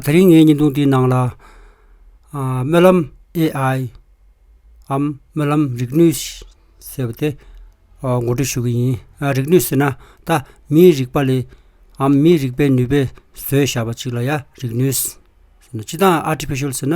ད་རིང་ངའི་བརྙན་ཐུང་འདིའི་ནང་ལ། སྨོན་ལམ AI འམ་སྨོན་ལམ་རིག་ནུས་ཞེས་པ་དེ་མགོ་འཁྲིད་ཞུ་གི་ཡིན། རིག་ནུས་ཟེར་ན་ད་མིའི་རིག་པ་ལས་འམ་མིའི་རིག་པའི་ནུས་པས་བཟོས་བཞག་པ་ཅིག་ལ་ཡང་རིག་ནུས། སྤྱི་དང Artificial ཟེར་ན།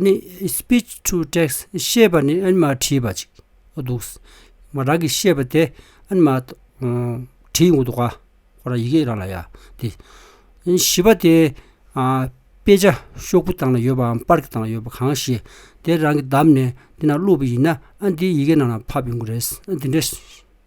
ནི Speech to Text ཤེས་པ་ནི་ཨན་མ་བྲིས་པ་ཅིག་འདུག། མ་རང་གིས་ཤེས་པ་དེ་ཨན་མ་བྲིས་འདུག་ག་ཁོ་རང་ཡི་གེ་རང་ལ་ཡ་དེ། བཞི་པ་དེ་དཔེ་ཆ་ཤོག་བུ་སྟངས་ལ་ཡོད་པའམ་པར་ཀི་སྟངས་ལ་ཡོད་པ་གང་ཞིག་དེ་རང་གིས་བདམས་ནས་དེ་ན་བླུགས་པ་ཡིན་ན་ཨན་དེའི་ཡི་གེ་ནང་ལ་ཕབ་ཡོང་གི་རེད། འདི་འདྲའི།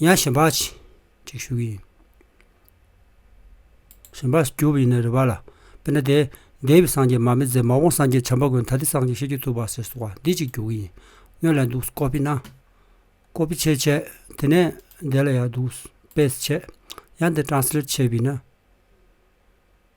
ཡང་གཞན་པ་གཅིག་ཞུ་གི་ཡིན། གཞན་པ་ཞུ་བ་ཡིན་ན་རེ་བ་ལ། དཔེར་ན་དེ། འདས་པའི་སངས་རྒྱས་མ་མེད་ཟད་མ་འོངས་སངས་རྒྱས་བྱམས་པ་དགོས་ན་ད་ལྟའི་སངས་རྒྱས་ཤེས་རྒྱུད་ཐུབ་པ་ཟེར་གསུང་བ་འདི་གཅིག་ཞུ་གི་ཡིན། སྔོན་ལ་འདུག་ཀོ་པི་ན། ཀོ་པི་ཆེ་བྱས། དེ་ནས་འདས་ལ་ཡང་འདུག་པེས་བྱས། ཡང་འདི་ཏྲང་སི་ལེད་བྱས་བི་ན།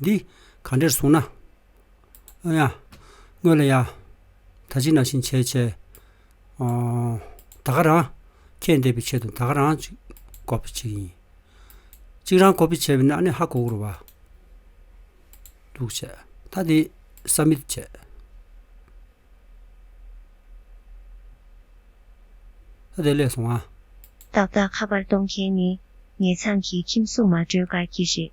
འདི་གང་འདྲེར་བཟུང་ན། ཨོ་ཡང། དངོས་ལ་ཡང། ད་ཅི་ན་ཕྱིན་ཆད་བྱས། ད་ག་རང། ཁྱེད་འདས་པའི་ཆེད་དུ་ད་ག་རང། གོ་བི་བྱེད་ཡིན། གཅིག་རང་གོ་བི་བྱས་བི་ན་ཨ་ནི་ཧ་གོ་གུ་རུ་བ། འདུག་བྱས། ད་འདི་སམ་མི་བྱས། ད་དེ་ལས་སོང་ང། ཏག་ཏག་ཁ་པར་གཏོང་མཁན་ནི། ངེད་ཚང་གི་ཁྱིམ་སུ་མ་བགྲོད་གར་གྱི་རེད།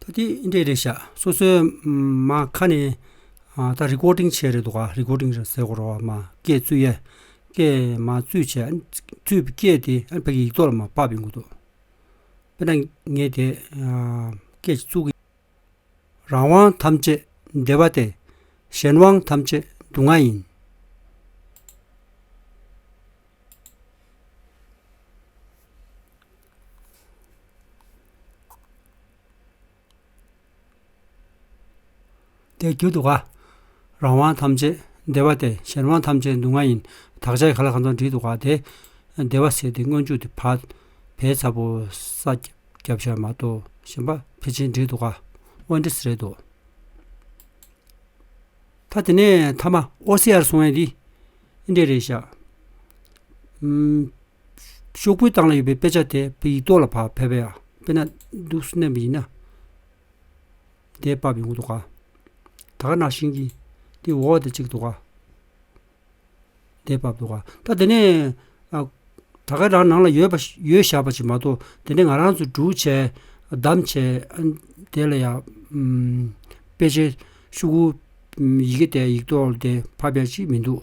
ད་ཐེངས་ཨིན་དྲས་རེད་བཞག་སོ་སོའི་མ་ཁ་ནས་ད་རི་ཀོར་ཏིང་བྱས་རེད་འདུག་ག་རི་ཀོར་ཏིང་ཟེར་གོ་རོགས་མ་སྐད་བཙུད་ཡ། སྐད་མ་བཙུད་བྱས་བཙུད་སྐད་དེ་ཨ་ཕ་གི་ཡིག་ཐོག་ལ་མ་ཕབ་ཡོང་གི་འདུག་དཔེར་ན་ངས་དེ་སྐད་ཅིག་བཙུད། རང་དབང་ཐམས་ཅད་བདེ་བ་སྟེ། གཞན་དབང་ཐམས་ཅད་སྡུག་བསྔལ་ཡིན། དེའི་རྒྱུ་དུ་བ། རང་དབང་ཐམས་ཅད་བདེ་བ་སྟེ་གཞན་དབང་ཐམས་ཅད་སྡུག་བསྔལ་ཡིན། དག་བྱ་ག་ལ་གང་དུ་འདྲིས་དུ་བ་སྟེ། བདེ་བ་ཟད་དེ་སྔོན་འཇུག་དེ་བར། བས་ཚ་བོ་ས། རྒྱབ་ཤར་མ་དོ། ཞེན་པ་འཕེལ་ཕྱིན་འདྲིས་དུ་བ། དབང་འདྲིས་རེད་དོ། ཐ་དེ་ནས་ཐ་མ་ཨོ་སི་ཡར་སོང་བས་འདི། འདྲེ་རེད་བཞག། ཤོག་བུའི་སྟེང་ལ་ཡོད་པའི་དཔེ་ཆ་དེ་ཡིག་ཐོག་ལ་ཕབ་ཕེབས་ཡ། དཔེར་ན་འདུག་སུ་གནས་པ་ཡིན་ན། དེ་ཕབ་ཡོང་གི་འདུག་ག། ད་ག་ནང་བཞིན་གྱིས་དེ་འོག་དེ་བྱེད་ཀྱི་འདུག་ག། དེ་ཕབ་འདུག་ག། ད་དེ་ནས་ད་ག་རང་ནང་ལ་ཡོད་པ་ཡོད་བཞག་པ་ཞིག་མ་གཏོགས་དེ་ནས་ང་རང་ཚོ་འབྲུག་བྱས་བདམས་བྱས་དེ་ལ་ཡང། དཔེ་ཆའི་ཤོག་བུ་ཡི་གེ་དེ་ཡིག་ཐོག་དེ་ཕབ་ཡ་ཅིག་མི་འདུག